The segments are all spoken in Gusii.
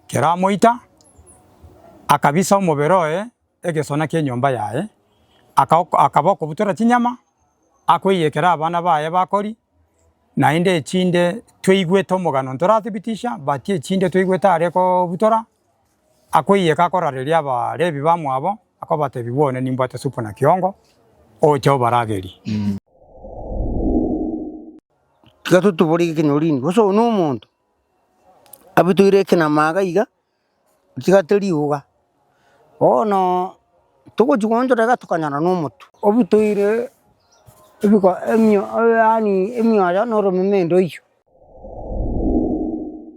keramoita, akabisa omobere oye egesona ki'enyomba yaye, akaok akaba okobutora chinyama, akoiyia ekero abana baye bakori, naende echinde tweigwete omogano ntorathibitisha but echinde tweigwete are kobutora, akoiyia eke akorareria Abalebi bamwabo, akobatebia bono nimbwate supu na kiongo, oche obaragerie. Tiga totobore gaki nyorire ime, gose oyo nomonto. Abutoire ekenama iga iga, otigate riuga, bono togochia goonchora iga tokanyora na omotwe. Obutoire ebiko emio yaani emioyo na oromeme ende oyio.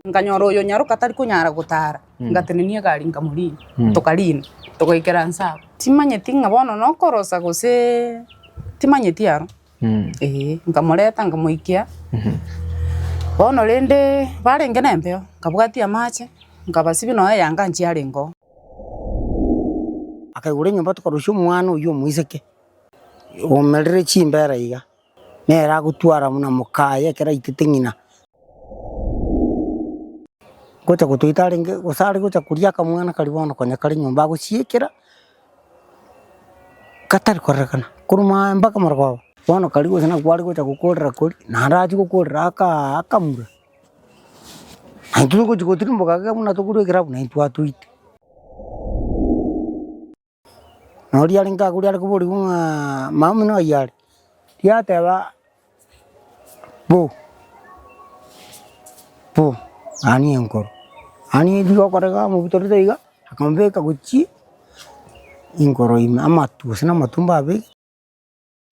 Nkanyora oyo nyaroka atari konyara gotara, ngatenenia egari nkamorina, tokarina, togaikera nse abwo. Timanyeti ng'a bono nokorosa gose timanyeti aro. Mm. Ee, nkamoreta nkamoikia bono rende barenge nembeo nkabwatia amache nkabasibia nonya eyanga nchie arengeo. Akaigora enyomba tokarusia omwana oyio omoiseke, omerire chimbera iga, nere agotwara buna mokaye ekero aitete ng'ina. Gocha gotoita arenge gose are gocha koria akamwana karia bono konya kare nyomba agosiekera. Gatari korerekana korwa maambia mpaka morogoro. Bono kari gose nako kware gocha gokorera kori, naende achie gokorera akaa akamura. Naende tiri gochi gotirimboka iga buna togure ekerabu naende twatoite. Nonya oria arenge agure are koboria ng'a mama omino oyio are? Yateba. Bo! Bo! Ani enkoro, ani echire okorega omobutorete iga, akamobeka gochie inkoro ime, amatu gose na amatu mbabeke.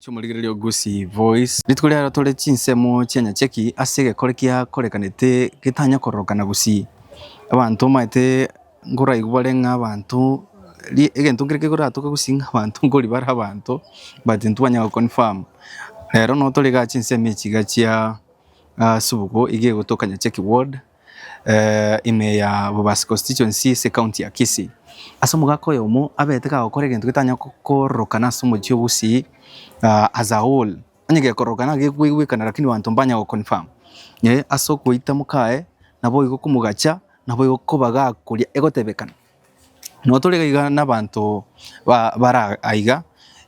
Chi'omorigereria o Gusii Voice. Rituko riarero tore chinsemo chi'enyacheki ase egekore kiakorekanete getanya kororokana Gusii. Abanto omanyete. Nkoraigwa bare ng'a abanto, egento kere kekoratoke gose ng'a abanto nkori bare abanto but ntibanyara goconfirm. Rero nabo tore igaa chinsemo echi iga chia Asubugo iga egotoka Nyacheki ward ime ya Bobasi constituency ase ecounty ya Kisii. Ase omogaka oyomo abete kagokora egento getanya kororokana ase omochie o Gusii as a whole. Onye gekoroka na gekoigwekana lakini banto mbanya go confirm eh ase okoita mokaye naboigo komogacha naboigo koba gakoria egotebekana. Nabo tore iga na abanto ba bara aiga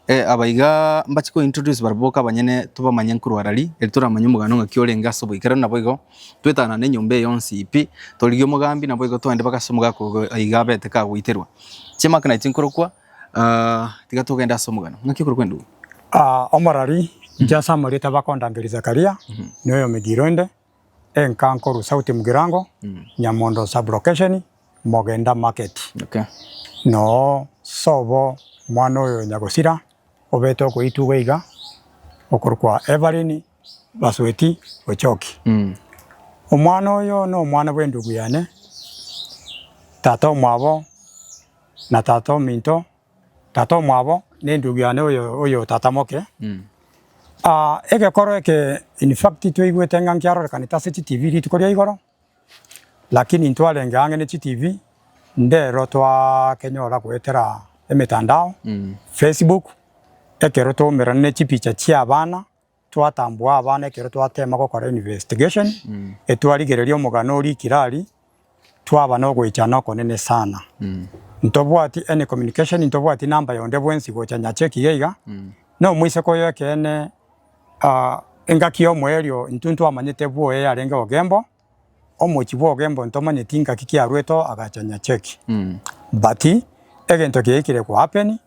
eh abaiga mbache ko introduce barabwo boka abanyene tobamanye nkorwara ri eri toramanye omogano ng'aki orenge ase oboikera naboigo twetanane enyomba eye yonsi pi torigie omogambi naboigo twende mpaka ase omogaka ogo aiga abete kagoiterwa. Chiamaka naye chinkorokwa. Tiga togende ase omogano. Ng'aki okorokwa endugu? Omorari, inche ase amarieta bakondangeria Zakaria, noyomegiro inde, enka nkorwa Sauti Mugirango, Nyamondo sub-location, Mogenda market. Noo sobo omwana oyo nyagosira obete okoitwa iga iga, okorokwa Evelyn. basweti gochoki. Omwana oyo nomwana bw'endugu yane, tata omwabo na tata ominto, tata omwabo nendugu yane oyo oyo tata moke. Ah egekoro eke in fact twaigwete ng'a nkiarorekanete ase chi TV rituko ria igoro, lakini ntwarenge ang'e ne chi TV ndero twakenyora goetera emetandao, Facebook, ekero twaumerana ne chipicha chiabana. Twatambua abana ekero twateema gokora investigation, etwarigereria omogano oria ikirari, twaba nogoichana okonene sana. Ntobwati any communication, ntobwati number yonde bwensi gocha Nyacheki iga iga, nomoiseke oyo ekeene, engaki y'omoerio intwe ntwamanyete bwoye yarenge Ogembo, Omochie bw'ogembo ntomanyeti ngaki kiaruete oo agacha nyacheki. But egento kiaikire kohappen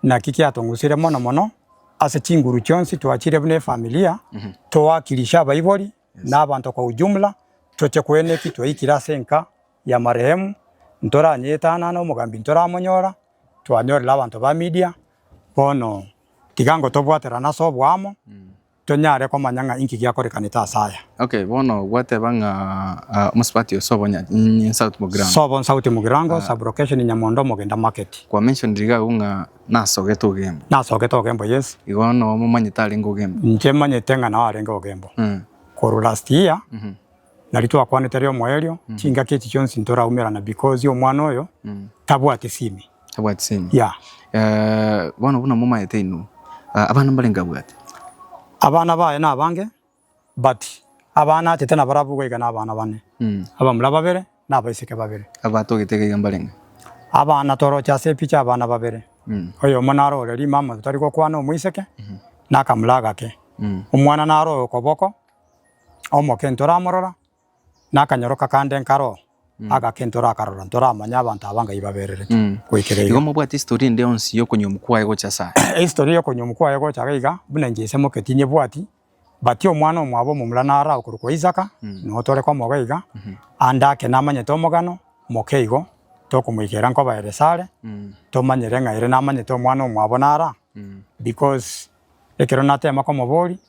naki kiatong'usire mono mono ase chinguru chionsi twachire buna efamilia toakilishe abaibori na abanto kwa ujumla toche koena eki twaikire ase enka ya marehemu ntoranyeetanana omogambi ntoramonyora twanyorire abanto ba media bono tiga ngotobwaterana ase oboamo tonyare komanya ng'a inki giakorekanete ase aya. Okay, bono gwateba ng'a omosubati oyo sobo South Mugirango. Sobo South Mugirango, sub-location Nyamondo, Omogenda Market. Kwa mentionire iga agwo ng'a nasogete Ogembo. Nasogete Ogembo, yes. Igo noo momanyete arenge Ogembo? Inche manyete ng'a nao arenge Ogembo. Korwa last year, Nari twakwanete ere omoerio, chingaki echi chionsi ntoraumerana because omwana oyo tabwati simi. Tabwati semi. Yeah. Eh, bono buna momaete inwe, ah, abana mbarenge abwate? Abana baye nabange, but abana achete nabarabwo iga iga nabana bane. Abamura babere, na abaiseke babere. Abatogete iga iga mbarenge? Abana toroche ase epicha abana babere. Oyomo naro ore rimama totari gokwana omoiseke, na akamura agake. Omwana naro oyo okoboko, omoke ntoramorora, na akanyoroka kande nkare oo, agake ntorakarora, ntoramanya abanto aba ngai babererete Mm. goikera Igo iga. mobwate history ende yonsi y'okonyomu kwaye gocha ase aya. History y'okonyomu kwaye gocha iga iga, buna inche nsemoketi nyebwati, but omwana omwabo omomura naro agokorokwa Isaka, Mm. nigo tore komoga iga, Mhm. ande ake namanyete omogano, moke igo, tokomoikera nkoba ere sare, Mm. tomanyere ng'a ere namanyete omwana omwabo naro aa, Mm. because ekero natema komoboria,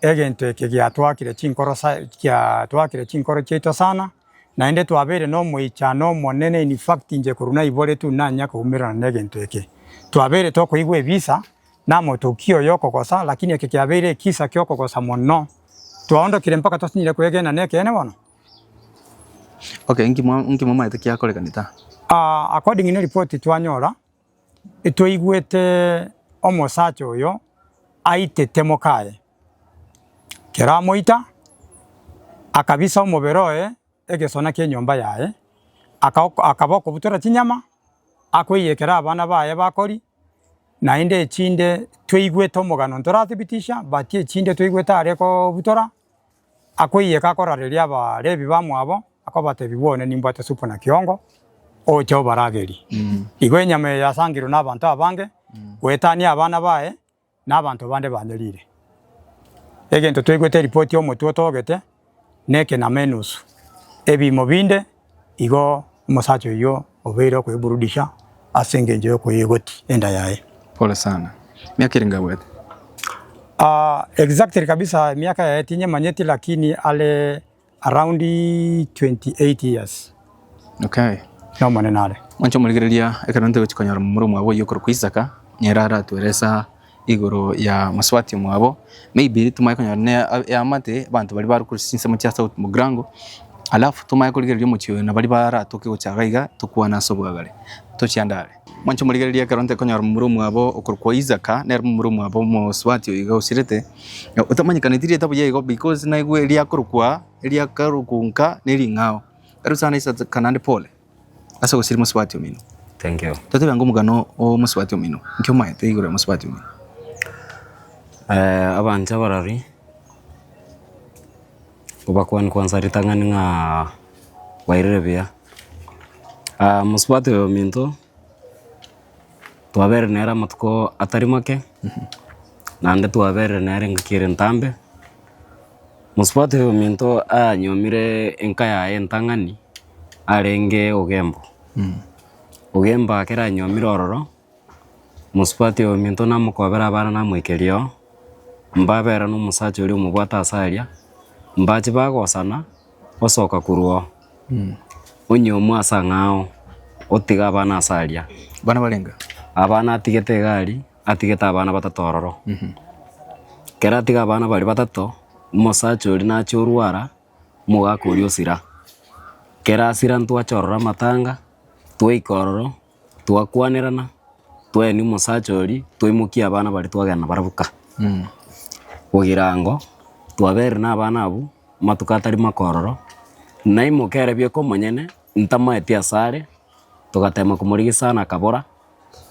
Egento eke giatwakire chinkoro sa giatwakire chinkoro chiaito sana, naende twabeire na omoichano omonene, in fact inche korwa naibore tu nanya koumererana na egento eke. Twabeire tokoigwa ebisa, na amotokia oyo okogosa, lakini eke kiabeire ekisa ki'okogosa mono, twaondokire mpaka twasinyire kwegena nekeene bono. Okay, nki mwa nki mwamaete kiakorekani ta? Aa, according neripoti twanyora, Etwaigwete omosacha oyo aitete mokaye. Ekero amoita, akabisa omobere oye egesona ki'enyomba yaye, akaok akaba okobutora chinyama, akoiyekera abana baye bakori, naende echinde twaigwete omogano ntorathibitisha but echinde twaigwete are kobutora. akoiyeka akorareria Abalevi bamwabo, akobatebia, Bwone nimbwate supu na kiongo, oche obaragerie. Igo enyama eye yasangirwe nabanto abange, goetania abana baye, na abanto bande banyerire. Egento twaigwete eripoti y'omotwe otogete, nekenama enusu, ebiimo binde, Igo omosacha oyio obeire okoeburudisha ase engencho y'okoyegoti enda yaye. Pole sana. Emiaka ere ngabwate? Ah, exactly kabisa emiaka yaye tinyemanyeti lakini are around 28 years. Okay. Nomonene are. Mwancha omorigereria ekero ntogochi konyora momura omwabo oyio okorokwa Isaka, nere aratwere esaa. igoro ya mosubati omwabo, maybe tomanye konyora ne eamate abanto baria bare korisia chinsemo chia south mogrango, alafu tomanye korigereria omochie oyo nabari baratoke gocha iga iga tokwane ase obwagare tochie ande are. Mwanche omorigererie ekero ntekonyora momura omwabo okorokwa Isaka nere momura omwabo omosubati oyo iga osirete, otamanyekaneti rieta buya igo because naigwe riakorokwa, eriakorokwa nka nering'ao. Erio sana Isaka naende pole. Ase ogosiria mosubati omino. Thank you. Totebe ango omogano o mosubati omino. Inki omaete igoro ya mosubati omino? Eh, abanto abarori ngobakwani kwansa ritang'ani ng'a bairire buya. Ah mosubati oyo ominto twabere nere amatuko atari make, naende twabere nere engaki ere ntambe. Mosubate ominto anyomire enka yaye entang'ani arenge ogembo. Ogembo akere anyomire ororo, mosubati ominto namokobera abana namoikeria oo, mbabera nomosacha oria omobwate ase aria, mbache bagosana osoka korwa oo, onyomwa ase ang'ao, otiga abana ase aria. Abana barenge? Abana atigete iga aria. atigete abana batato ororo. Ekero atiga abana baria batato, omosacha oria nacha orwara, omogaka oria osira. Ekero asira ntwacha ororo amatanga, twaika ororo, twakwanerana, twaenia omosacha oria, twaimokia abana baria twagenda barabwo ka. Ogirango, twaberire na abana abwo, amatuko atari make ororo, naimoka ere bieka omonyene, ntamaeti asare, togatema komorigia sana akabora.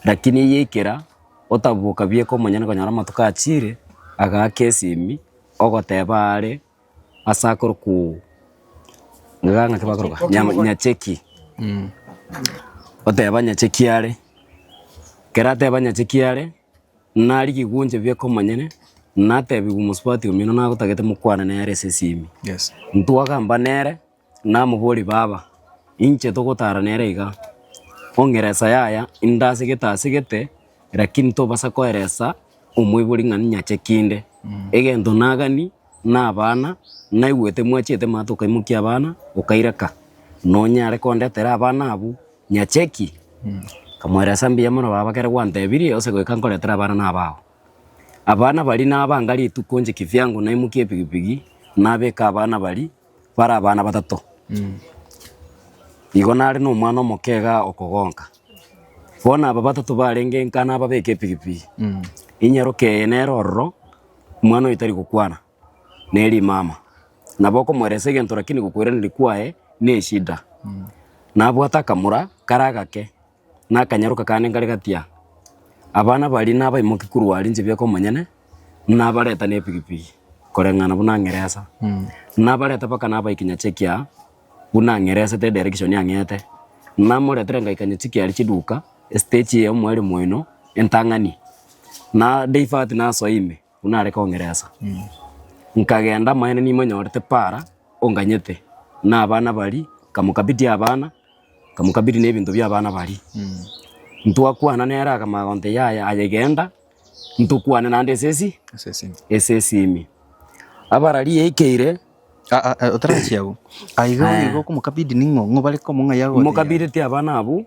Lakini eye ekera otabuboka bieka omonyene konyora amatuko achiire, agaaka esimi, ogoteba aare ase akorokwo iga ng'aki bakoroka? Nyama nyacheki. Oteba nyacheki are, ekero ateba nyacheki are, narigia egunche bieka omonyene, natebiwa omosubati omino nagotagete mokwane nere ase esimi. Yes. Ntwagamba nere. Namoborie, Baba, inche togotara nere iga, ong'eresa yaya inde asegete asegete, lakini tobasa koeresa omoibori ng'a ninyache kinde. Egento nagani nabana, naigwete mwachete maate okaimokia abana, okaireka, nonyare kondetera abana abwo nyache ki? Nkamoeresa mbuya mono baba ekero gwantebirie ose goika nkoretera abana nabao. Abana baria nabanga rituko inche kivyangu naimokia epigipigi, nabeka abana baria. Bare abana batato. Igo nare nomwana omoke iga okogonka. Bono aba batato barenge nka nababeke epigipigi, inyaroke eye nere ororo, omwana oyo tari gokwana, ne rimama. Nabo okomoelesa egento lakini gokoiraneria kwaye neshida. Nabwate akamura kare agake. na akanyaroka kande nkare gatia, abana baria nabaimokie korwa aria inche bieka omonyene, nabareta nepigipigi koreng'ana buna ng'eresa. Nabareta mpaka nabaika nyacha ekiagera buna ng'eresete direction ang'ete. Namoretire ngaika nyacha ekiagera chiduka, estage eye ya omwalimu oino entang'ani, na divert nasoa ime. buna are kong'eresa. Nkagenda, amanyene nimonyorete para onganyete na abana baria, nkamokabidia abana, nkamokabidia na ebinto bia abana baria. Ntwakwana nere akamanya gonte yaya aye genda, ntokwane naende ase esi, Ase ase ime. ase esi ime. Abara riaikeire, Ah, ah, ah, otarachia agwo. Ah, iga Eh. iga okomokabidi ning'o? Ng'o bare komong'aia gotebi? imokabidetie abana abwo,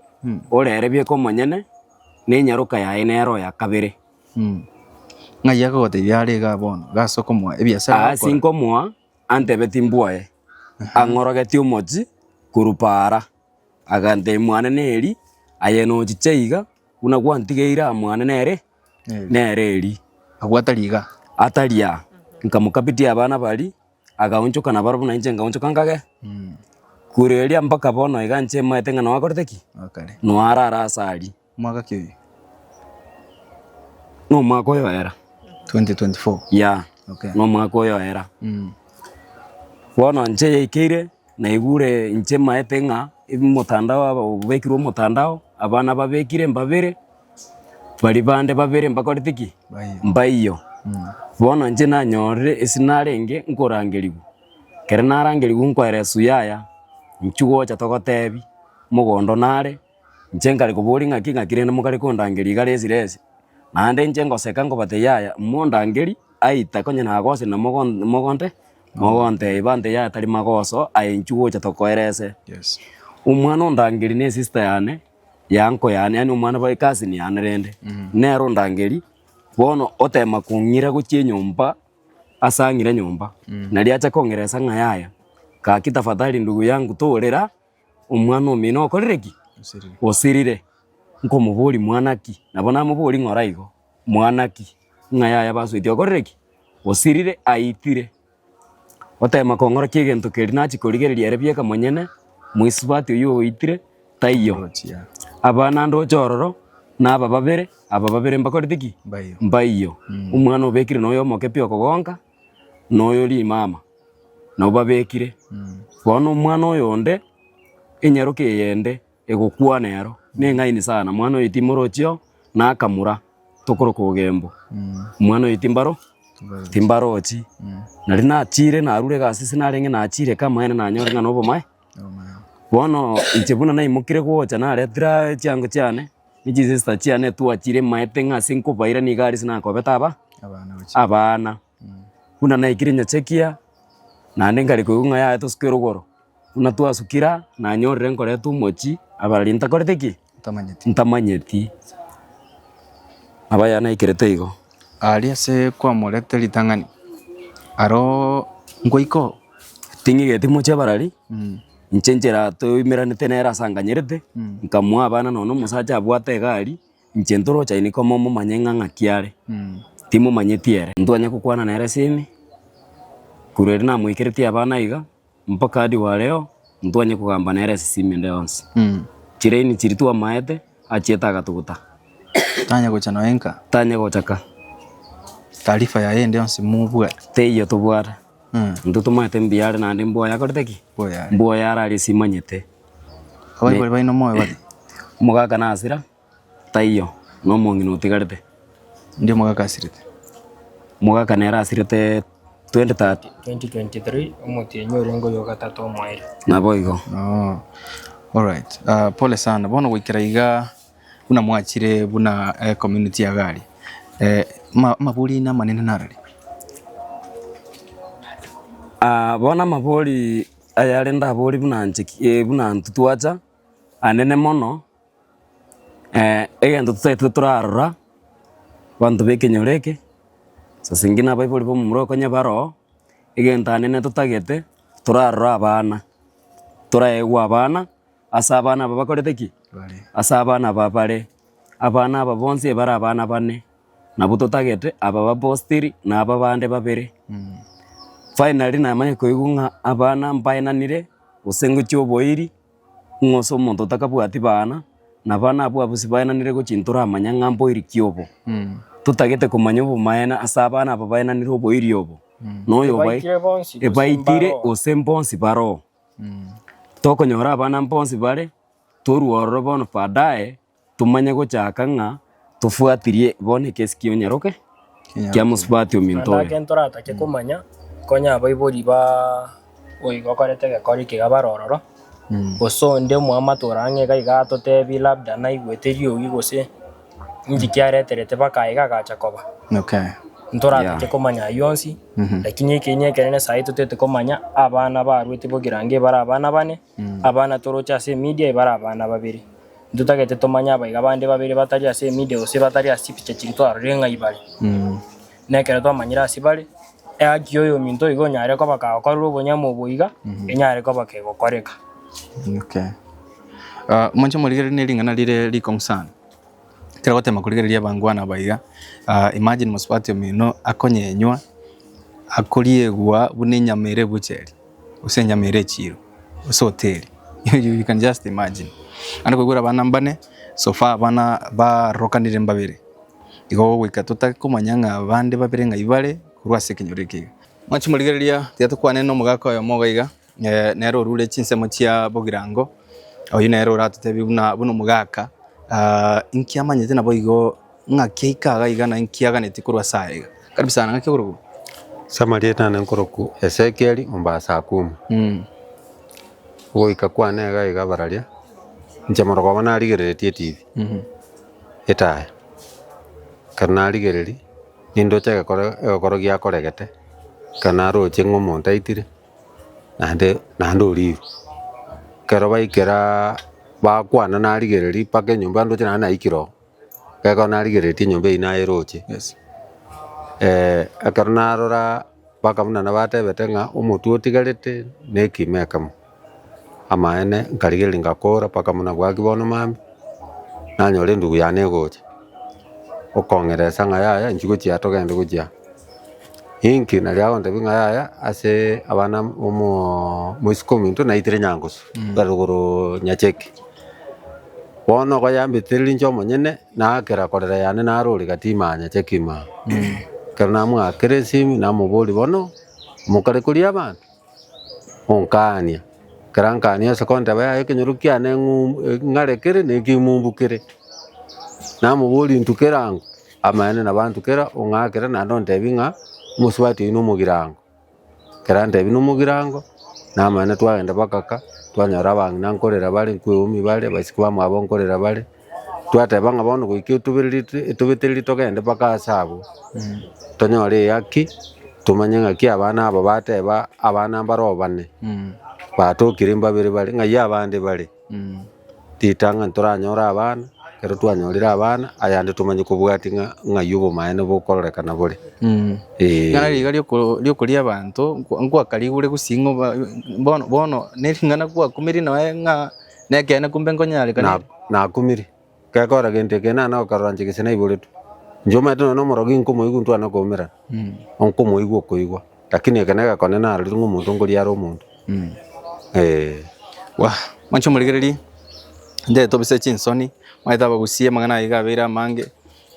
ore ere bieka omonyene, na enyaroka yaye nere oya kabere. Ng'ai akagoteebia, Are igaa bono, iga ase okomoa ebiasara Aa ase ogokora. nkomoa, antebe timbwaye, ang'orogeti omochi korwa paara. Agantebia, Mwane neri, aye nochiche iga, buna gwantigeire aa mwane nere, nere eri. Abwo atari igaa. Atari aa. Nkamokabitia abana baria, agaonchoka naboro buna inche ngaonchoka nkage, kure eria mpaka bono iga inche maete ng'a noakorete ki? Noarara ase aria. Omwaka ki? Nomwaka oyoera. 2024. Yeah. Okay. Nomwaka oyoera. Mm. Bono nche yaikeire naigure nche maete ng'a motandao obekirwe motandao abana babekire mbabere bari bande babere mbakorete ki? Mbaiyo. Mm. Bono nche nanyorire ase narenge nkorangerigwa. Kere narangerigwa nkoera esu yaya inchugocha togotebi mogondo nare Inche nkare koboria ng'aki ng'aki rende mokare kondangeria igare esira ese. Naende inche ngoseka nkobate yaya mondangerie aita konye nagosa na mogo mogonte mogontebia bante yaya tari magoso aye inchuo gocha tokoera ese. Omwana ondangeria ne sister yane ya uncle yane yaani omwana bwa ecousin yane rende. Nere ondangeria bono otema kong'ira gochia enyomba ase ang'ire nyomba. Nari acha kong'eresa ng'a yaya gaki tafadhali ndugu yangu torera omwana omino okorire ki? Osirire. Osirire. Nkomoboria mwana ki? Nabo namoboria ng'ora igo, mwana ki? Ng'a yaya basoetie okorire ki? Osirire, aitire. Oteema kong'ora ki egento keria nachia korigereria ere bieka monyene, moisubati oyio oitire, taiyo. Orochia. Aba naende oche ororo, na aba babere, aba babere mbakorete ki? Mbaiyo. Mbaiyo. Omwana obekire noyo omoke pi okogonka? noyo rimama nabo babekire. Bono omwana oyonde enyaroke eyende egokwana ero neng'aini sana, mwana oyo timorochi oo nakamura tokoroka ogembo, omwana oyo timbaro timbarochi. Nari nachire narure egasi ase narenge nachire eke amaene nanyore ng'a nobomae. Bono inche buna naimokire gocha naretire chiango chiane. ne chisesta chiane twachire maete ng'a ase nkobaira nigo aria ase nakobete aba abana. Buna naikire nyachekia, naende nkare koigwa ng'a yaya tosuke rogoro, buna twasukire aa, nanyorire nkoreta omochi abararia ntakoreti ki? Ntamanyeti. Nabo aya naikerete igo. Aria ase kwamorete ritang'ani, aroo ngoika oo. Ting'igeti mochie abararia. inche enchera toimeranete nere ase anganyerete, Mm. nkamoa abana nonya na omosacha abwate egari, inche ntoroche aye niko momomanye ng'a ng'aki are, Mm. timomanyeti ere. Ntwanye gokwana nere ase ime, korwa riria namoikeretie abana iga, mpaka hadi wa leo, ntwanye kogamba nere ase esime ende yonsi. Mm. Chiraini chiria twamaete, achiete agatogota, Tanya gocha noe nka. tanye gocha ka, Taarifa yaye ende yonsi mobwate. teiyo tobwate. Intwe tomanyete mbuya are naende mbwoya akorete ki? Mbwoya are aria simanyete. Abaibori baino moyo bare? Omogaka nasira? Taiyo, nomong'ina otigarete. Ndio omogaka asirete. Omogaka nere asirete 2030. 2023 omotienyi oria ngoyo ogatato omoerio. Naboigo. Ooh. Alright. Pole sana. Bono goikera igaa. Buna mwachire buna ecommunity ya Gari, amabori aino amanene nararei? Bono amabori ayare ndabore buna inche buna intwe twacha, anene mono, egento totaete torarora, abanto b'ekenyoro eke, saa zingine abaibori b'omomura oko onye bare oo, egento anene totagete torarora abana, toraegwa abana. ase abana aba bakorete ki? Ase abana aba bare. Abana aba bonsi ebare abana bane. Nabo totagete aba bapostiri na aba bande babere. Finally namanya koigwa ng'a abana mbaenanire gose ngochia oboiri ng'a ase omonto otakabwati bana na abana abwo abwo sibaenanire gochia ntoramanya ng'a mboiri ki obo. Totagete komanya obomaene ase abana aba baenanire oboiri obo. Na oyo obae- Ebaikire bonsi gose mbaroo. ebaikire gose mbonsi baroo. Tokonyora abana mbonsi bare, torue ororo bono baadaye tomanye gochaka ng'a tofuatirie bono egesikio onyaroke kia mosubati ominto Naende oyo. ake ntoratake komanya, nkonye abaibori ba oigo okorete egekori eke iga bare ororo, gose onde omwamato ore ang'e iga iga atotebie labda naigwete eriogi gose. Inki kiareterete bakaye iga agacha koba? Ntoratake komanya ayio onsi, lakini ekeene ekenene sahi totaete komanya abana baaruete bogirango ebare abana bane, abana toroche ase emedia ebare abana babere. Ntotagete tomanye abaiga bande babere batari ase emedia gose batari ase chipicha chiria twarorire ng'ai bare. na ekero twamanyire ase bare, ehaki ya oyominto igo onyare koba kagokorerwa obonyamu obo iga, enyare koba kegokoreka. Okay. Ah, moche morigererie ne ring'ana rire rikong'u sana. Ekero ogotema korigereria abangwana aba iga, ah, imagine mosubati omino akonyenywa, akoriegwa buna enyama ere ebucheri, gose enyama ere echiro, gose hoteri. You can just imagine. Naende koigwera abana mbane, so far abana barorokanire mbabere. Igo goika totake komanya ng'a bande babere ng'ai bare korwa ase ekenyoro eke iga. Mwanchi morigereria, tiga tokwane nomogaka oyomo iga iga, nere orure chinsemo chia bogirango, oyio nere oratotebie buna buna omogaka, inki amanyete naboigo ng'aki aike iga iga na inki aganeti korwa ase aya iga. Karibu sana, ng'aki okorokwa? Samaria nane nkorokwa Esekieli omba ase Akumu. Goika kwane iga iga bararia, inche morokoo obo narigereretie etibi. etaya. Ekero narigereria, nindoche egekoro egekoro giakoregete, ekero naroche ng'a omonto aitire, naende naende orieirwe. Ekero baikeraaa bakwana narigereria mpaka enyomba ndoche naende naikire oo, ekero narigereretie enyomba eywo nayeroche, ekero narora. Mpaka buna nabatebete ng'a omotwe otigarete nekimo ekemo. Amaene nkarigereria ngakora mpaka buna bwaki bono mambia, nanyora endugu yane egocha okong'eresa ng'a yaya inchwe gochia aa togende gochia aa. Inki naria agontebia ng'a yaya ase abana omoo- moisiko ominto naitire Nyangusu, rugoro Nyacheki. Bono okoyambetera ere inche omonyene naakera korera yane narori gatima nyache kima. Ekero namoakera esimi namoboria bono mokare koria abanto? Onkaania. Ekero ankaania ase konteba yaya ekenyoro kiane ng'u ng'are kere na ekimumbu kere. Namoboria intukera ango? Amaene nabo antukera ong'akere naende ontebia ng'a omosubati oino omogirango. Erantebi nomogirango, namanya twagenda mpaka ka, twanyora abang'ina nkorera bare, nkwo eomi bare, abaisiki bamwabo nkorera bare, twateba ng'a bono goika etoberiritwe etobetereri togende mpaka ase abwo, tonyore eyaki, tomanye ng'aki abana aba bateba abana mbaro bane, batokire mbabere bare, ng'ai abande bare. Ritang'ani ntoranyore abana, ekero twanyorire abana ayande tomanye kobwatia ng'a ng'ai obomaene bokororekana nabore. Ee. Ng'a riga rioko- riokoria abanto nkwa- nkwakarigure gosii ng'o ba- bono bono nering'ana kwakumeri noe ng'a nekeene kumbe nkonyare kane. Na- nakumiri. Gekora gento eke naende okoroncha gese naiboretwe. Inche omanyete nonya na omorogi nkomoigwa ntwane koumerana, nkomoigwa okoigwa, lakini eke neke kone narorire ng'a omonto nkoriara omonto. Eeh. Wah! Mwancha omorigereria, intwe tobisae chinsoni, omanyete abagusia amang'ana aye iga abeire amange,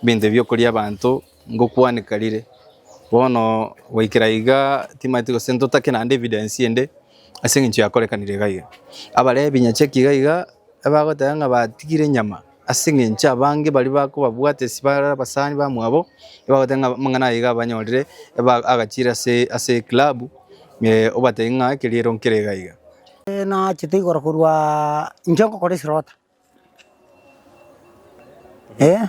ebinto ebi okoria abanto. Ngokwaneka rire. Bono goikera iga timanyeti gose ntotake naende evidence ende ase eng'encho yakorekanire iga iga. Abarebi nyacheki iga iga abagoteba ng'a batigire nyama ase eng'encho abange baria bakobabwate ase bare abasani bamwabo ebagoteba ng'a amang'ana aya iga abanyorire eba agachire ase ase eclub obatebi ng'a keria ero nkere iga iga. Nachete igoro korwaaa inche ngokora eslota, eh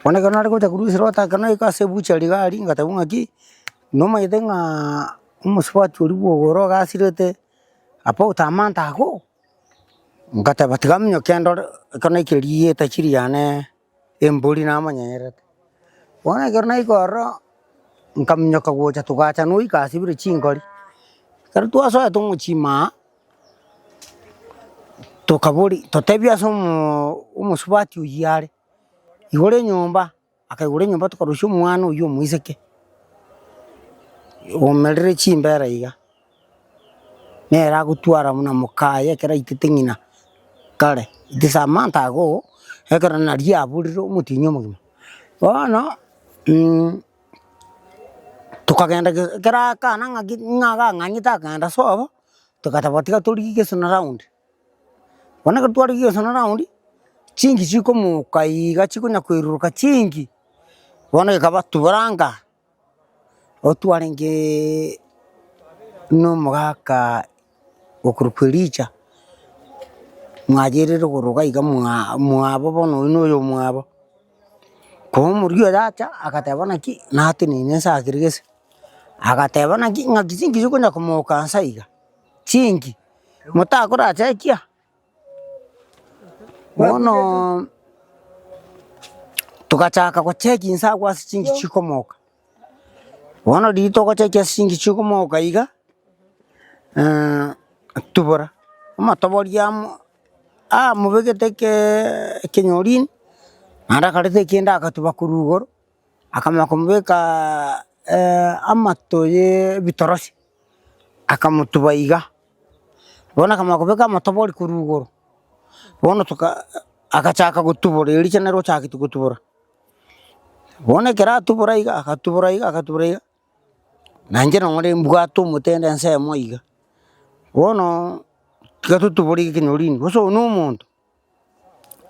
bono ekero nare gocha korwa ase rota ekero naika ase ebuchari iga aria ngatebwa ng'aki, nomanyete ng'aaaa omosubati oria bwa ogoro ogasirete apa otama ntago, ngateba tiga minyoke ndore, ekero naikire rieta chiri yane. Embori namonyenyerete, bono ekero naika ororo, nkaminyoka gocha togacha noika asibire chingori, ekero twasoete tomochima aa, tokabori totebia ase omoo omosubati oyio are, igoro enyomba, akaigora enyomba tokarusia omwana oyio omoiseke, omerire chimbera iga. nere agotwara buna moka aye ekero aitete ng'ina kare its a month ago, ekero naria aborire omotienyi omogima. Bono tokagenda ge ekero akana ng'aki ng'a gang'anyete akagenda sobo, togateba tiga torigie geso na round, bono ekero twarigirie geso na round, chinki chikomoka iga chikonya koiruruka chinki, bono ekaba tubura angaa. otwarenge nomogaka okorwa kwa Elija, mwayeire igoro iga iga mwa mwabo bono oyo noyo mwabo, ko omoria oyo acha agateba naki natenene nse ase kere gese, agateba naki ng'aki chinki chikonya komoka nse iga, chinki motakoracha ekia. Bono togachaka gocheki inse agwo ase chinki chikomoka, bono riria togocheki ase chinki chikomoka iga, tubora, omotoboria amo aa mobegete keeee ekenyorini, naende akareta ekende akatuba korwa igoro. Akamanya komobeka amato y'ebitorosi, akamotuba iga, bono akamanya kobeka amatobori korwa igoro, bono toka agachaka gotubora, erio richa naro ochagetie gotubora. Bono ekero atubora iga, agatubora iga, agatubora iga, na inche nonye ore mbwate omotende ensemo iga, bono tiga totubore iga ekenyoro rinde, bosa oyo na omonto,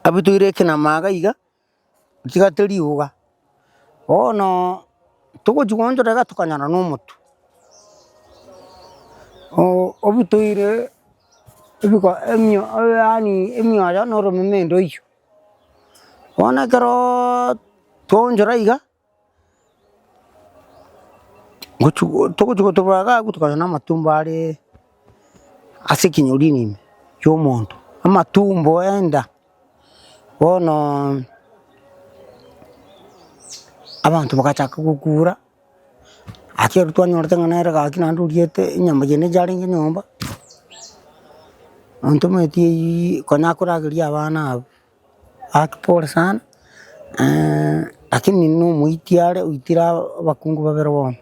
abutoire ekenama iga iga. Nchigate riuga, bono togochia goonchora iga tokanyora na omotwe, o- obutoire ebiko emio yaani emioyo na oromeme ndo oyio. Bono ekeroooo twaonchora iga. Gochi go togochi gotobora iga agwo tokonyora namatumbo aree ase ekenyorini ime kia omonto, amatumbo enda, bonoooo abanto bagachaka gokura, gaki ekero twanyorete ng'a nere gaki naende oriete enyama eye nere yarenge nyomba, nontometi eyiiyi konya akorageria abana abwo. Akpore sana lakini nomoiti are oitire abakungu babere bono,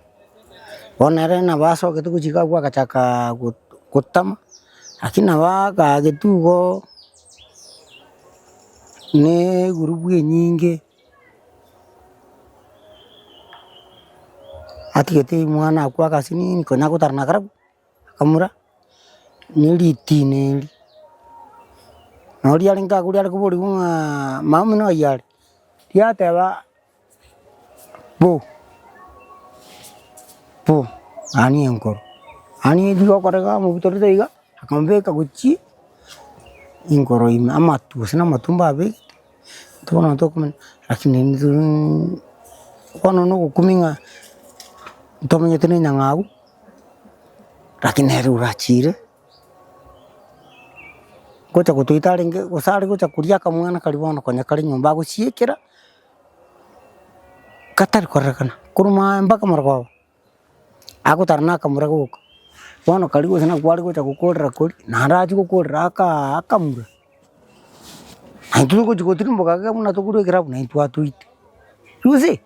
bono ere nabo asogete gochika agwo agachaka gotama, lakini nabo akagete igoo na egurubu enyinge, atigete mwana agwo agasiniini konya gotara na karabu. akamura neritina eeri, na oria arenge agure are koborigwe ng'aa mama omino oyio are, yateba bo bo ani enkoro, ani eri gokorega amabuta rita iga, akamobeka gochie enkoro ime amatu gose na amatumbo abegete, intwe bono tokomanya rakini bono nogokumia ng'a ntomanyete na enyang'au. Rakini nere orachiire, gocha gotoita arenge gose are gocha koria akamwana karia bono konya kare nyomba agosiekera, katari korerekana, korwa maambia mpaka marogoba, agotara na akamura goka, bono karia gose nako are gocha gokorera koria, naende achie gokorera akaa akamura, naintwe togochi gotirimboka iga buna tokoroikera abwo naintwe atoite, you see.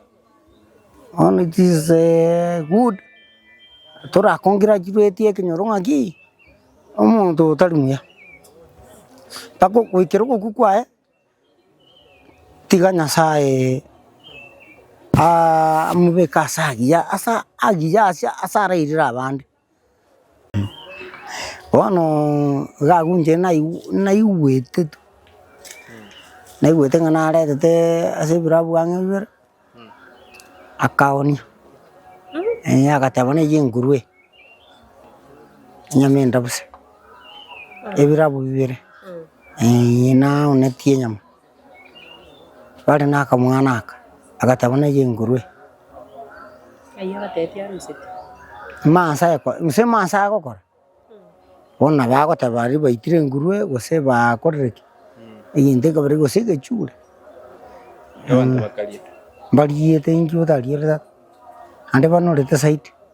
Bono chisee good tora congratulate ekenyoro ng'aki omonto otari muya, mpaka ogoikera ogokwa kwaye, tiga Nyasaye aamobeke ase agiya ase agiya ase arairire abande. Bono iga agwo inche naigu naigwete tu, naigwete ng'a naretete ase ebirabu ang'e bibere, akagonia eh agateba na eyio engurue eye, enyama endabusa, ebirabu bibere eh nagonetie enyama. bare na akamwana aka, agateba buna eye engurue, mansa aye ko gose mansa aye gokora, bono nabo agoteba aria baitire engurue gose bakorire ki, egento ekebare gose egechure, mh, mbariete inki otariete tata, naende bano orete side.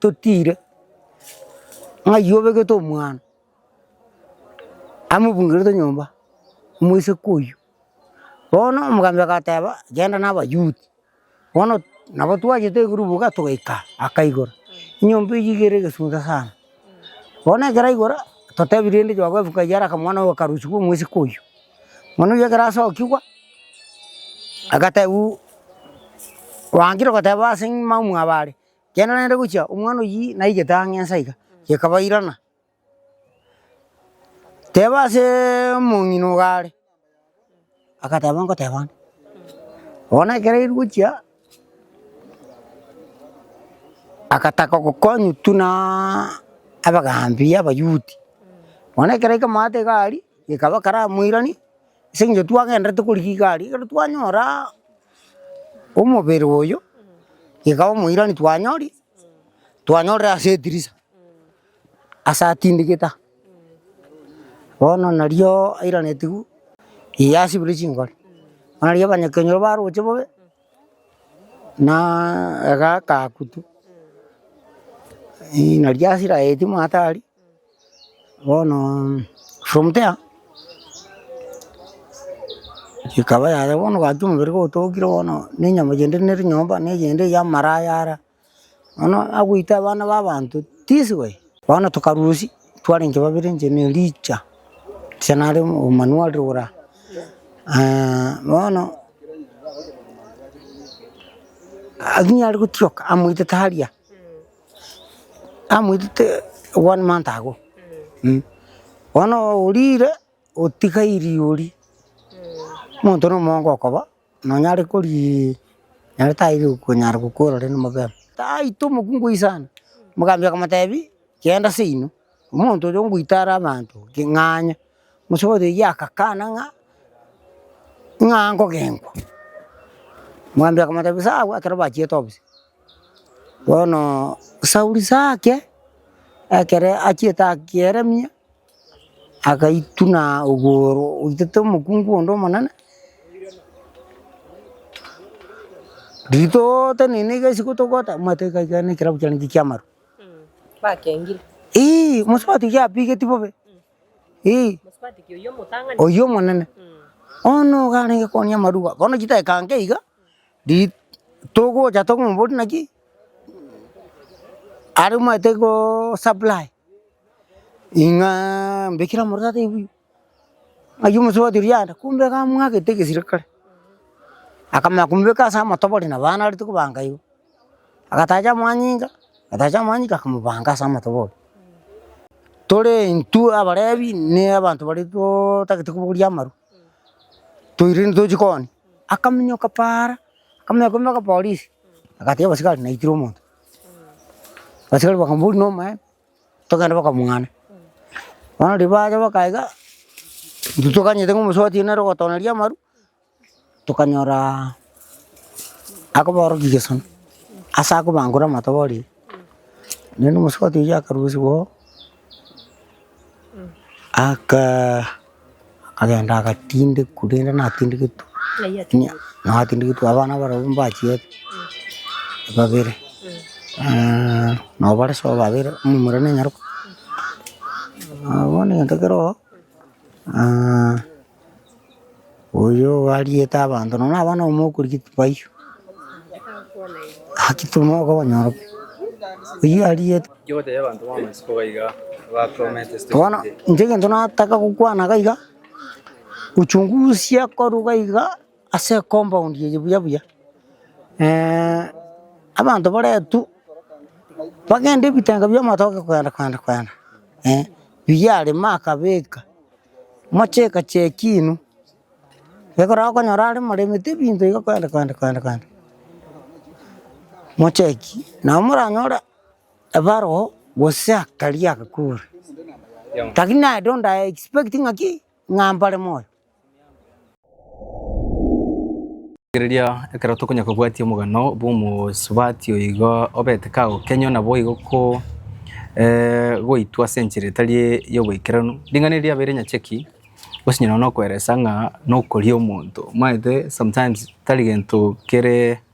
totiire, ng'ai obegete omwana amobungerete nyomba, omoiseke oywo. Bono omogambi agateba genda na abayuti, bono nabo twachete igoro boka togaika akaigora, enyomba eywo iga ere egesunte sana. Bono ekero aigora, totebi rende choka efu ng'ai are akamwana oyo akarusiwa omoiseke oywo. Manu oyio ekero asokigwa, agatebiwa, kwangire goteba aseng'ima omwabo are. Kenda naende gochia omwana oyio naigete ang'e nse aiga, gekabairana. Teba aseeee omong'ina ogo are, agateba ngoteba ng'a bono ekero aire gochia, agataka gokonywa tunaaaa abagaambi abayuti, bono ekero aika amato iga aria, gekaba karamoirani, ase eng'encho twagenderete korigia igari ekero twanyoraa omobere oyo, iga omoirani twanyori, twanyorire ase etirisa, ase atindikete aa. Bono narioo airanetigwe eye asibire chingori, bono nario abanyakenyoro baroche bobe, naaaa iga akakutwa, eeh naria asira aye timwatari. Bono somutea ekaba yaya bono ogachia omobere kotokire bono na enyama chende nere nyomba na eyende ya amaraya ara, bono agoita abana ba abanto this way. Bono tokarusia tware inche babere inche na Elija, Elija nare omomani wa riroraa bono aginyare gotioka amoite taria. Namoitete one month ago, eh, bono orire otiga eriogi, omonto na omonto okoba nonyare koriia naende taiyo okonyara gokorora ere omobere. Taito omokungu oyi sana, omogambi okomotebi genda seino. Omonto oyo ngoitara abanto king'anya, omosabato oyio agakana ng'a ng'a ngogenkwa, mwambia akamotebia sawa ekero bachiete obisa. Bono Sauli sake ekere achiete akieremia, agaituna ogoro oitete omokungu onde omonene, rituuute nini gesi gotogota omanyete gaiga nekerabu kiane ngi'kiamaru. Ii, mosubati oyio abigeti bobe. Ii, oyio omonene. Bono iga arenge koania amaruba. Bono chidakika nke iga, ri- togocha tokomoboria naki, aromanyete go supply ing'a mbekire amorero tata ebuya. Ayio omosubati oria yanda, kumbe iga amwagete egesira kare, akamanya komobeka ase amatobore nabo aye narete kobanga igo, agatacha amanyinga, agatacha amanyinga akamobanga ase amatobore. Tore intwe abarebi ne abanto baria totagete kobogoria amarwa, toirire ntochie koonia, akaminyoka paara, akamenya kome akapolisi, agatiga abasigari naitire omonto, abasigari bakamoboria nomaene, Tokende mpaka omong'ana. Bono riria bacha bakae igaa, intwe tokaganyete ng'a omosuba otienete nere ogotoneria amaru, tokanyoraa akobaorokia egesano, ase akobangure amatoba orire, naende omosuba otiga akarusigwa oo, akaa. Akagenda agatindekwa rende natindigetwe, natindigetwe abana barobwo mbachiete babere nabo bare sobo babere omomura ne nyaroka. Bono egento keroo. Oyo ariete abanto nonya naba nomokorigia tibaiyo, haki timoka obonyoro pi, oyio ariete. Ki ogotebia abanto b'amaisiko iga iga abakwamete ase Bono tochire? inche egento nataka gokwana iga iga, uchungusie korwa iga iga ase ecompaund eye buya buya, abanto baretwe bagende ebitenga bi'amatoke kogenda kogenda kogenda, eh, biya arema akabeka, mocheka cheki inwe, ekero okonyora are moremete ebinto iga kwende kwende kwende kwende, mocheki nabo moranyore ebarwa gose akari agakure lakini I don't I expect ng'a ki? Ng'a mbare moyo. Rigereria, ekero tokonya kobwatia omogano bw'omosubati oyo igo obete kagokenywa naboigo ko eh goitwa ase enchera etari y'oboikeranu. Ring'ana eri riabeire nyacheki gose onye nokoeresa ng'a nokoria omonto, omanyete sometimes tari gento kere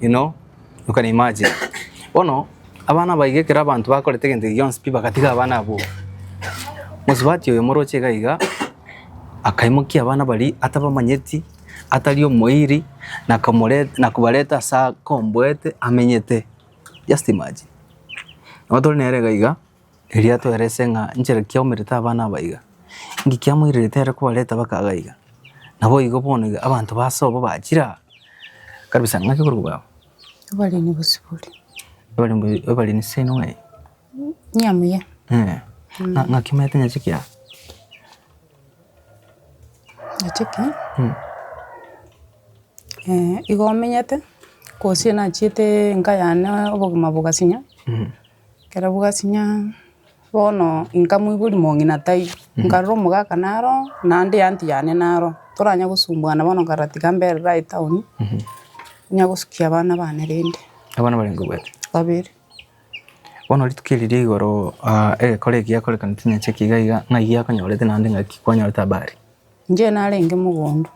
You know, you can imagine. Bono abana abaige ekero abanto bakorete egento eki gionsi pi bagatiga abana abwo. Mosubati oyo omoroche iga iga akaimokia abana baria atabamanyeti, atari omoiri na akamoreta na kobareta ase akomboete amenyete. Just imagine. Nabo tore nere iga iga. Erio atoerese ng'a inchera kiaumerete abana aba iga, inki kiamoirerete ere kobareta baka iga iga. Naboigo bono iga abanto ba ase obo bachire aa kabisa ng'aki okoria bwao? Obaremi bosibore. Obaremi obaremi seino ng'ai? Muya muya. Eeh. Ng'a- ng'aki omanyete nyache ki aa? Nyache ki? Mm. igo omenyete, gose nachiete enka yane obogima bogasinya. Ekero bwasinya, bono nkamoiboria mong'ina taiyo, nkarora omogaka naro oo, naende eanty yane naro oo, toranya kosumbuana bono nkarora tiga mbere raye town, onya gosukia abana bane rende. Abana barenge obwate? Babere. Bono rituko eri ria igoro aa egekore eki giakorekana chinyacha eki iga iga, ng'ai giakonyorete naende ng'aki kwanyorete habari? Inche narenge mogondo,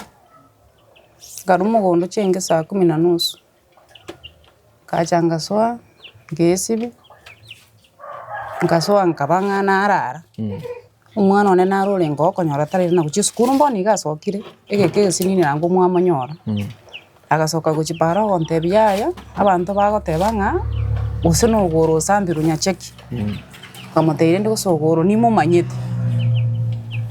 nkarwa mogondo chiainge saa kumi na nusu, ngacha ngasoa, ngesibia, ngasoa nkaba ng'a narara, omwana one naro orenge okonyora tari na gochia esukuru bono nigo asokire, egeka egesinini naende mwamonyora, agasoka gochia paaro ogontebia yaya, abanto bagoteba ng'a gose na ogoro osambirwe nyacheki, nkamotebia rende gose ogoro nimomanyete,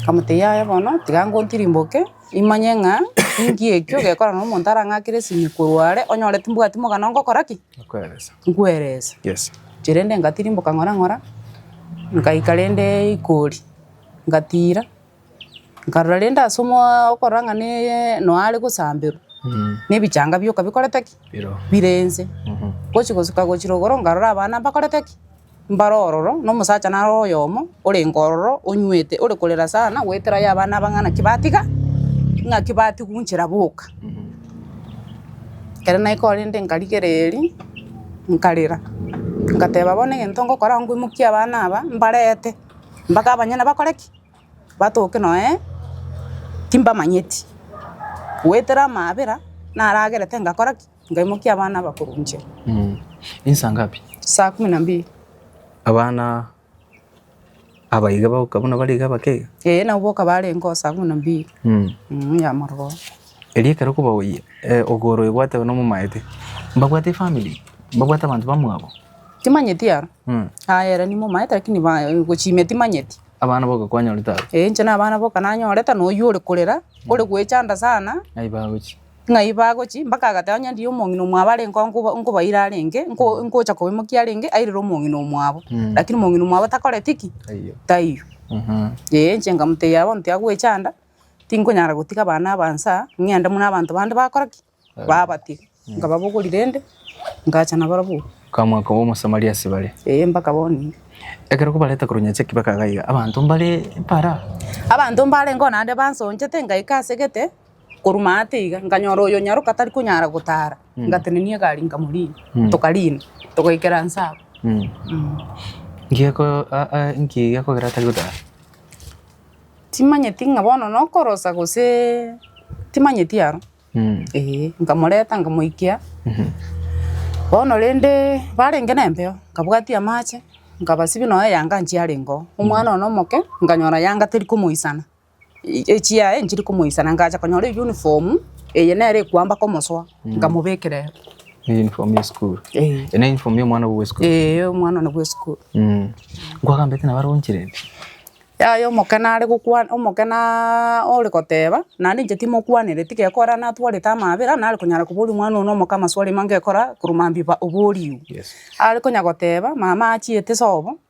nkamotebia yaya bono tiga ngontirimboke. Imanye ng'a ninki ekio gekora na omonto arang'akere esimi korwa are, onyore timbwati mogana ongokora ki? Okoeresa. Nkweresa. Yes. Inche rende ngatirimboka ng'ora ng'ora, nkaika rende Ikori, ngatira, nkarora rende ase omooo okorora ng'a naaaa nonya are gosamberwa, na ebichanga bioka bikorete ki? Bire inse. Gochi gosuka gochia rogoro nkarora abana mbakorete ki? Mbare ororo, na omosacha nare oyomo orenge ororo onywete, ore korera sana, goetera aye abana abang'ana naki batiga, naki batigwa inchera boka. Ekero naika orende nkarigera eeri, nkarera, ngateba bono egento ngokora nigo ngoimokie abana aba, mbarete mpaka abanyene bakore ki? Batoke nonye timbamanyeti. Goetera amaabera, naragerete ngakora ki? Nkaimokia abana abakoro inche. Ni saa ngapi? Saa kumi na mbili. Abana aba iga bagoka buna bare iga abakeiga? Ee, nabo boka barengeo saa kumi na mbili mm ya morogoro. Erio ekero kobaoyia ogoro ebwate bono momaete, mbabwate efamiri? Mbabwate abanto bamwabo? Timanyeti aro. Aye ere nimomaete lakini gochimia timanyeti. Abana boka kwanyorete aba? Ee, inche nabana boka nanyorete na oyio ore korera, ore goechanda sana. Naibagochia. ng'ai bagochia, mpaka agateba onye ndiye omong'ina omwabo are nko nko nkobaira arenge, nko nkocha kobaimokia arenge, airire omong'ina omwabo. Mm. Lakini omong'ina omwabo takoreti ki? Taiyo. Taiyo. Mhm. Ee, inche nkamotebia bono tiagwechanda, tinkonyara gotiga abana aba inse aa, ng'ende buna abanto bande bakora ki? Babatiga. Nkababogori rende, ngacha nabarabwo. Okamwa koba Omosamaria ase bare. Ee, mpaka bono ime. Ekero kobareta korwa Nyacheki mpaka iga iga, abanto mbare mpara. Abanto mbarenge oo naende bansonchete ngaika asegete. korwa maate iga nkanyora oyonyaroka tari konyara gotara ngatenenia egari nkamorina tokarina togaikera nse abwo. Timanyeti ng'a bono nokorosa gose timanyeti aro ee nkamoreta nkamoikia bono rende barenge na empeo nkabwatia amache nkabasibia nonye yanga nchiarenge oo omwana one omoke nkanyora yanga teri komoisana. echiaye nchiri komoisana ngacha konyora eyuniform eye nere ekoamba komosoa nkamobekera ere. Eyuniform ya esukuru. Eh. Eye neyuniform ya omwana obo bwa esukuru. Eh, omwana one bwa esukuru. Nkwagambete nabo aronchire pi. Yaya omokena are gokwana, omokena ore goteba, naende inche timokwanire, tigekora natwarete amabera, nare konyara koboria omwana one omoke amaswali amange ekora korwa mambia ba- oboriwu. Yes. Are konya goteba, mama achiete sobo,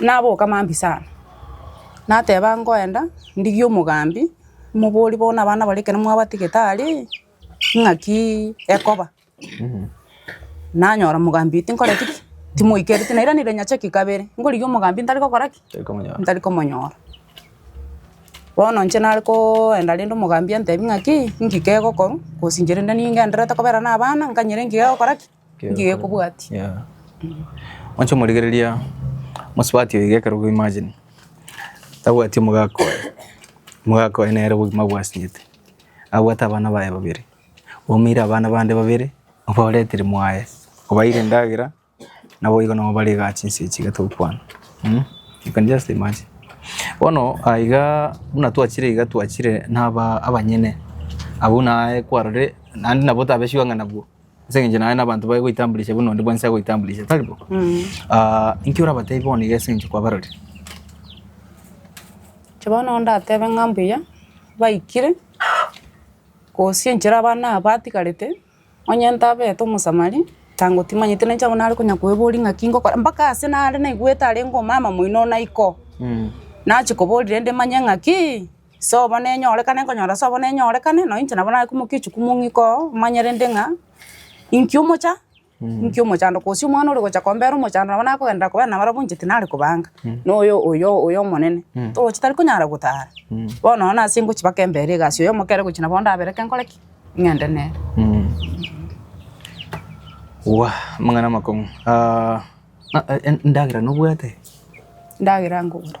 Naboka mambia sana, nateba ngoenda ndigie omogambi, moborie bono abana baria ekero mwabatigete aria ii, ng'aki ekoba, nanyora mogambi oyo tinkoreti ki? timoikereti, na irani rinyachoki kabere, nkorigia omogambi ntari gokora ki? ntari komonyora. Bono inche nare koenda rende omogambi antebi ng'aki ii, ng'ki kegokorwa, gose inche rende ningendererete kobera na abana, nkanyire ng'ki gegokora ki? Ngiye kobwatia. Yeah. Onche omorigereria mosubati oiga ekero ogo imagine. Tabwati omogaka oye. Omogaka oye nere obogima bwasinyete. Abwate abana baye babere. Omeire abana bande babere, obaretire mwaye. Obaeire endagera, nabo igo nabo bare igaa chinsa echi iga togokwana. Mh? You can just imagine. Bono aiga buna twachire iga twachire naba abanyene. Abwo naye kwarore, naende nabo otabesiwa ng'a nabwo. ase eng'encho naye na abanto baye goitamburisha buna onde bwensi agoitamburisha, tari bo? Ah, inki orabateebie bono iga ase eng'encho kwabarorire? Inche bono ndatebe ng'a mbuya baikire, gose enchera abana aba batigarete, onye ntabete omosamari, tango timanyete nainche abwo nare konya koeboria ng'aki ngokora, mpaka ase nare naigwete arenge omama moino naiko, nachi koboria rende manye ng'akii. Sobo nenyorekane nkonyora sobo nenyorekane, nonye inche nabo nakumokia echuku mong'ika oo, omanye rende ng'a inki omocha, inki omochando, gose omwana ore gocha kombera omochando nabo nakogenderera kobera nabarabwo inche tinare kobanga, na oyo oyo oyo omonene, torochi tari konyara gotara. Bono nonye nase ngochi mpaka embere egasi, oyo omokere gochi nabo ndabereke nkore ki? Ng'ende nere. Wooh, amang'ana amakong'u. Ah, ah, en- endagera nobwate? Endagera nkogora.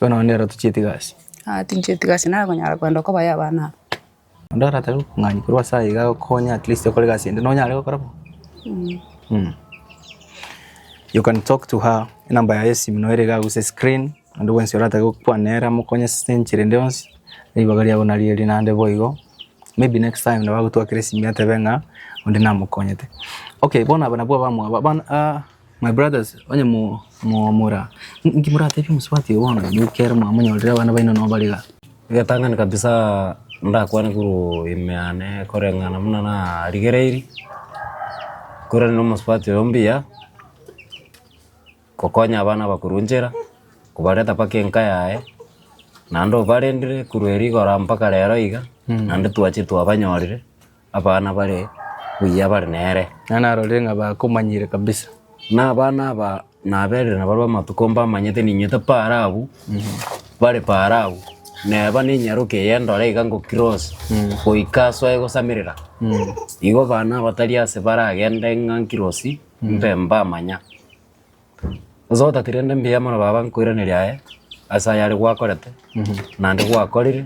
Bono nero tochieti gasi. Aa tinchieti gasi nare konyara koenda kobayo abana aba. Onde oratabe obong'aini korwa ase aye iga agokonye at least okore egasi ende nonyare gokora bo. You can talk to her enamba yaye y'esimo nero iga agwo ase screen onde bwensi oratabe gokwana nere amokonye ase enchera ende yonsi ribaga riabo nari erio naende boigo. Maybe next time nabo agotwakera esimi atebe ng'a onde namokonyete. Okay bono aba nabwo abamwabo abana. My brothers, onye mwamura, inki moratebie omosubati oyo bono, nigo ere mwamonyorire abana baino nao bare iga? Egetang'ani kabisa ndakwane korwa ime yane koreng'ana buna narigereiri, nkorane na omosubati oyo mbuya, gokonya abana abakoro inchera, kobareta mpaka enka yaye, naende obarendire korwa rigoro mpaka rero iga, naende twachire twabanyorire. abana bare buya bare nere. Na narorire ng'a bakomanyire kabisa. Na abana aba naberire nabarue amatuko mbamanyete ninywe tapara abwo bare para abwo, neba nenyaroke eye ndore iga ngo cross goika asoe gosamerera. Igo abana abatari ase baragende ng'a nkirosi mbe mbamanya. Onsi otatire rende mbuya mono baba nkoiraneria aye ase ayare gwakorete naende gwakorire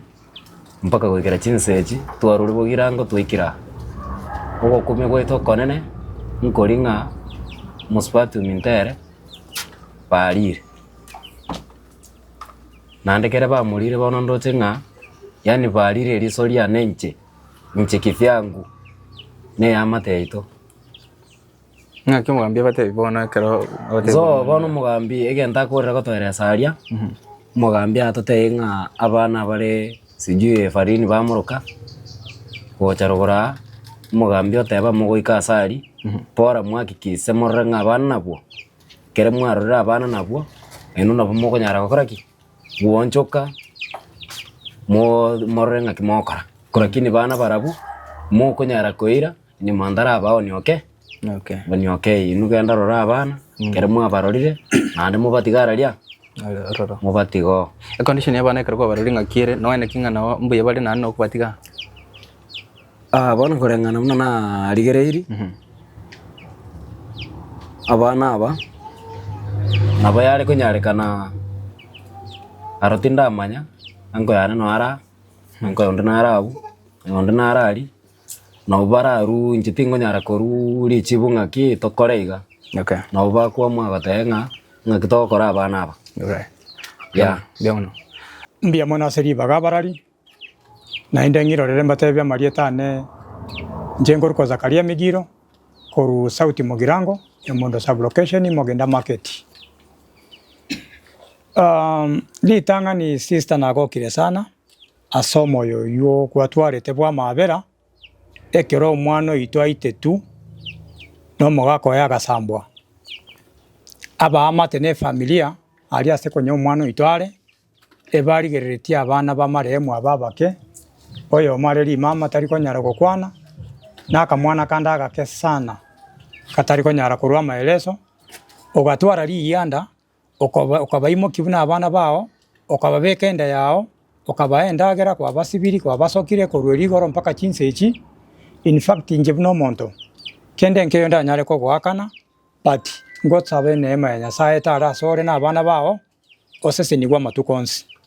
mpaka goikera chinsa echi twarure boigo rango twaikire aa. Ogokumia gwaito okonene nkori ng'a mosubatium ntere barire. Naende kere bamorire bono ndoche ng'a yaani barire eriso riane inche, inche kivyangu na ey'amate yaito. Ng'aki omogambi abatebi bono ekero abatebi So bono- bono omogambi egento akorera gotoeresa aria, omogambi atotebie ng'a abana abare sijui efarini bamoroka gocha rogoro aa, omogambi oteba amo goika ase aria, bora mwahakikise morore ng'a abana nabwo, ekero mwarorire abana nabwo, nainwe nabo mokonyara gokora ki? Gwoonchoka mo morore ng'aki mogokora. Ko rakini bana barabwo, mokonyara koira. Nyuma ndaraba onyoke, Okay. onyoke eyi, inwe genda rora abana, kere mwabarorire, naende mobatiga araria, Ore- ororo. mobatiga oo. Econdition ya abana ekero kwabarori ng'aki ere, noe naki ng'a nao mbuya bare naende nokobatiga. Ah, bono koreng'ana buna narigereiri, abana aba, nabo yare konyarekana aro tindamanya, enko yane noara, enko onde nara abwo, onde nara aria, Nabo bararue inche tingonyara korua richibu ng'aki tokore iga. Okay. Nabo bakwamwa bagoteba ng'a ng'aki togokora abana aba. Okay. Yeah. Mbia mono. Mbia mono ase ribaga abarari. Naende ng'irorere mbatebie amarieta ane. Inche nkoruko Zakaria Migiro, korwa Sauti Mogirango, Emondo Sub-Location, Mogenda Market. Um, ritang'ani sister nagokire sana. Ase omoyo oyio gwatwarete bw'amabera, ekero omwana oito aitetwe na omogaka oye agasambwa, abaamate na efamilia aria ase konya omwana oito are, ebarigereretie abana b'amarehemu aba abake, oyomo are rimama tari konyara gokwana, na akamwana kande agake sana, gatari konyara korwa amaeleso, ogatwara riyianda okabaimokia buna abana bao, okababeka enda yao, okabaha endagera kwabasibiri, kwabasokire korwa rigoro mpaka chinsa echi, in fact inche buna omonto, kende nkeiyo ndanyare kogoakana, but ngosabe neema ya Nyasae etare asore na abana bao, oseseniwe amatuko onsi.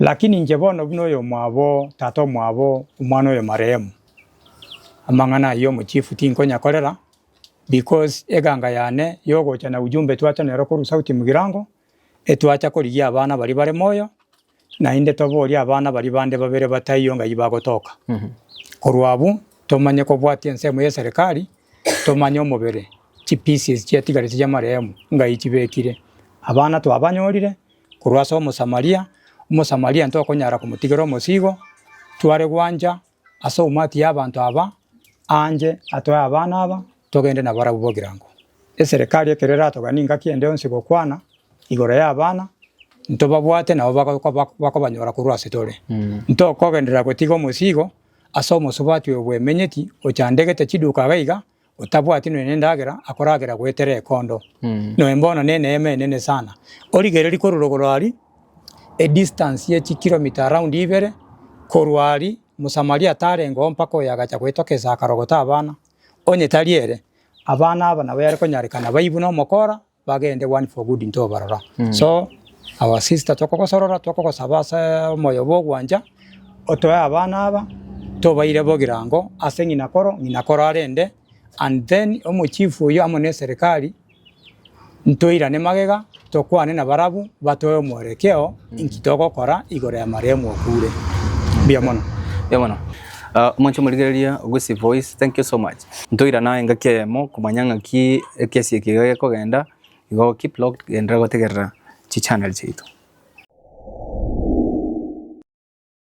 Lakini inche bono buna oyomwabo o tata omwabo omwana oyo marehemu, amang'ana ayio omochifu tinkonyakorera, because eganga yane yogocha na ujumbe twacha nero korwa Sauti Mgirango, etwacha korigia abana baria bare moyo, naende toborie abana baria bande babere bataiyo ng'ai bagotoka. Korwa abwo, tomanye kobwatia ensemo y'eserikari, tomanye omobere, chipieces chiatigarete chi'amarehemu ng'ai chibekire. Abana twabanyorire, korwa ase Omosamaria, Omosamaria ntokonyara komotigera omosigo, tware gwancha ase omwati y'abanto aba, aanche atoe abana aba, togende nabarabwo bogirango. Eserekari ekero eratoganie engaki ende yonsi gokwana igoro y'abana, ntobabwate nabo bagokoba bakobanyora korwa ase tore. Ntokogenderera gotiga omosigo ase omosubati oyo bwemenyeti, ochandegete chiduka iga iga, Otabwati nonya nendagera, akoragera goetera ekondo. Noe bono neneema enene sana. Origereri korwa rogoro ari, edistance ye chikiromita around ibere, korwa ari, Mosamaria atarengeo mpaka oyo agacha goetoka esee akarogota abana. Onye tari ere, abana aba nabo yare konyarekana baibwe nomokora, bagende one for good ntobarora. So our sister tokogosorora tokogosaba ase omoyo bwa ogwancha otoe abana aba tobaire bogirango ase ng'ina koro ng'ina koro arende and then omo chief oyio amo ne eserekari ntoirane magega tokwane na barabwo batoe omworekeo inki togokora igoro ya marehemu okure. Mbuya mono. Mbuya mono. Ah, omonto omorigereria Gusii Voice, thank you so much. Ntoirana engaki eyemo komanya ng'aki ekesi eke iga gekogenda, igo keep locked genderera gotegerera chichannel chiaito.